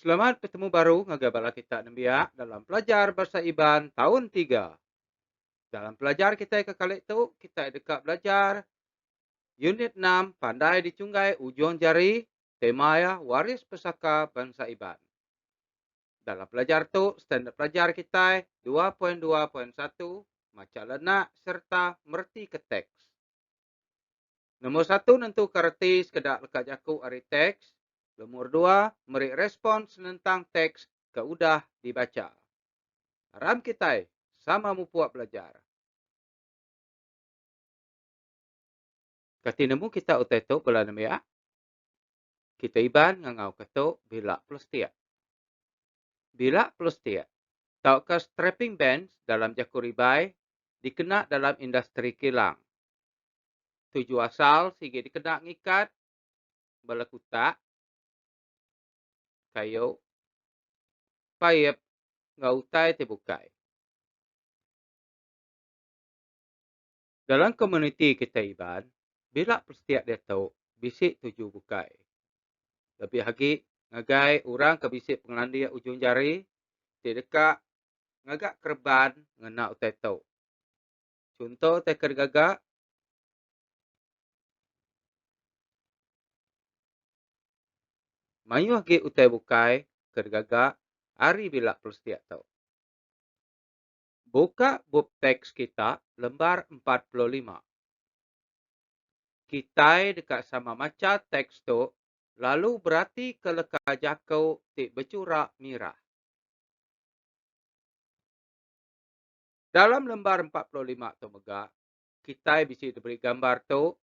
Selamat betemu baru ngagai bala kita nembiak dalam pelajar Bahasa Iban taun tiga. Dalam pelajar kitai ke kali tu, kitai deka belajar Unit enam Pandai Dicunggai Ujung Jari, tema iya Waris Pesaka Bansa Iban. Dalam pelajar tu, standard pelajar kitai dua poin dua poin satu Macha lenak sereta meretika teks. Nombor satu nentuka reti sekeda leka jaku ari teks, lomor dua meri respon senentang teks ke udah dibacha. Aram kitai sama mupuk belajar. Kati nemu kitai utai tu bala nembiak? Kita Iban ngangauka tu bila plastik. Bila plastik tauka strapping bands dalam jaku ribai dikena dalam industri kilang. Tuju asal sigi dikena ngikat bala kutak, kayu, paip enggau utai ti bukai. Dalam komuniti kitai Iban, bila Persetiak diatu bisi tuju bukai. Lebih agi ngagai orang ke bisi pengelandik ujung jari ti deka ngaga kereban ngena utai tu. Chunto utai ke digaga. Mayuh agi utai bukai ke digaga ari bila Persetiak tu. Buka bup teks kita lembar empat puluh lima. Kitai deka sama macha teks tu lalu beratika leka jaku ti bechura mirah. Dalam lembar empat puluh lima tu mega, Kitai bisi diberi gambar tu,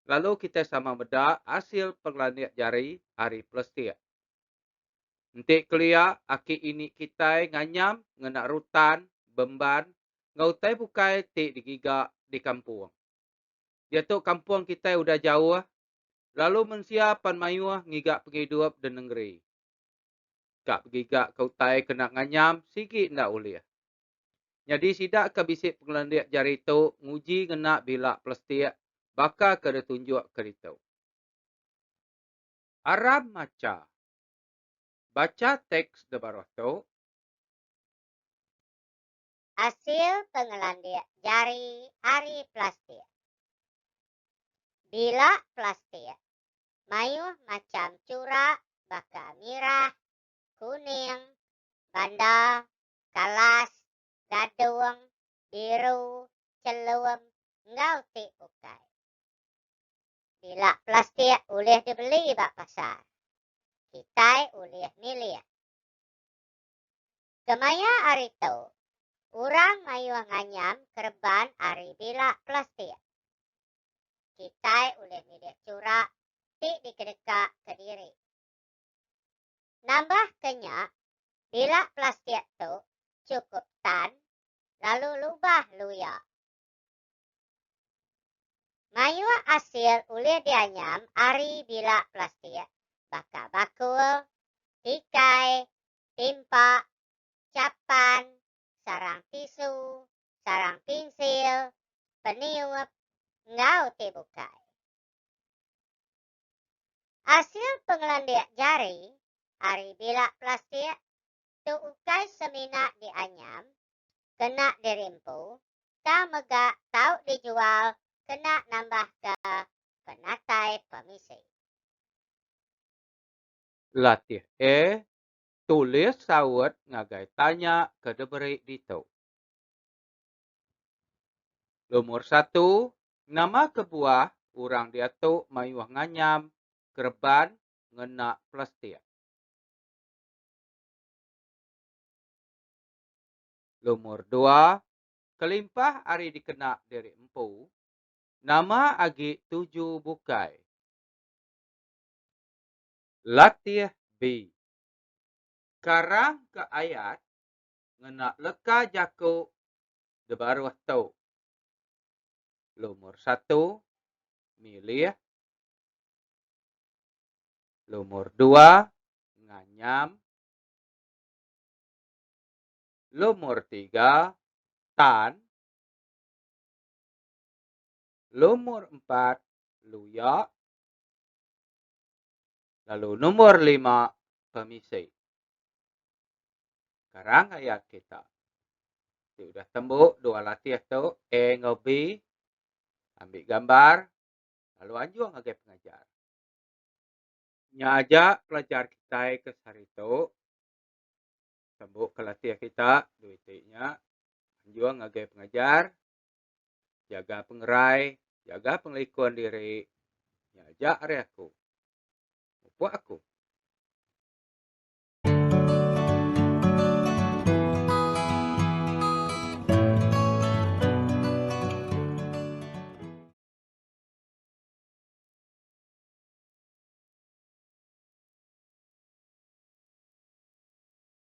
lalu kitai sama meda asil pengelandik jari ari plastik. Enti kelia, aki ini kitai nganyam ngena rutan, bemban enggau utai bukai ti digiga di kampung. Diatu kampung kitai udah jauh, lalu mensia pan mayuh ngiga pengidup di nengeri. Ka begigaka utai kena nganyam sigi enda ulih. Nyadi sida ke bisi pengelandik jari tu nguji ngena bila plastik baka ke ditunjuk ke ditu. Aram macha. Bacha teks di baruh tu. Asil pengelandik jari ari plastik. Bila plastik mayuh macham churak baka mirah, kuning, banda, Kalas, Gadung, Biru, Chelum enggau ti ukai. Bila plastik ulih dibeli ba pasar, kitai ulih milih. Kemaya ari tu, orang mayuh nganyam kereban ari bila plastik. Kitai ulih milih chura ti dikedeka kediri. Nambah ke nya, bila plastik tu chukup tan lalu lubah luya. Mayuh asil ulih dianyam ari bila plastik baka bakul, tikai, timpa, chapan, sarang tisu, sarang pinsil, peniup enggau ti bukai. Asil pengelandik jari ari bilak plastik tu ukai semina dianyam kena dirimpu tang mega tau dijual kena nambahka penatai pemisi. Latih A, Tulis saut ngagai tanya ke diberi ditu. Lumur satu, nama kebuah orang diatu mayuh nganyam kereban ngena plastik? Lumur dua, kelimpah ari dikena diri empu, nama agi tuju bukai? Latih B. Karangka ayat ngena leka jaku di baruh tu. Lumur satu, milih. Lumur dua, nganyam. Lumur tiga, tan. Lumur empat, luya. Lalu nombor lima pemisi. Karang ayat kita. Ti udah tembu dua latih tu A enggau B ambil gambar lalu anjung ngagai pengajar. Nya aja pelajar kitai ke sehari tu tembu ke latih kita dua iti nya anjung ngagai pengajar Jaga pengerai, jaga pengelikun diri. Nya aja ari aku. Mupuk aku.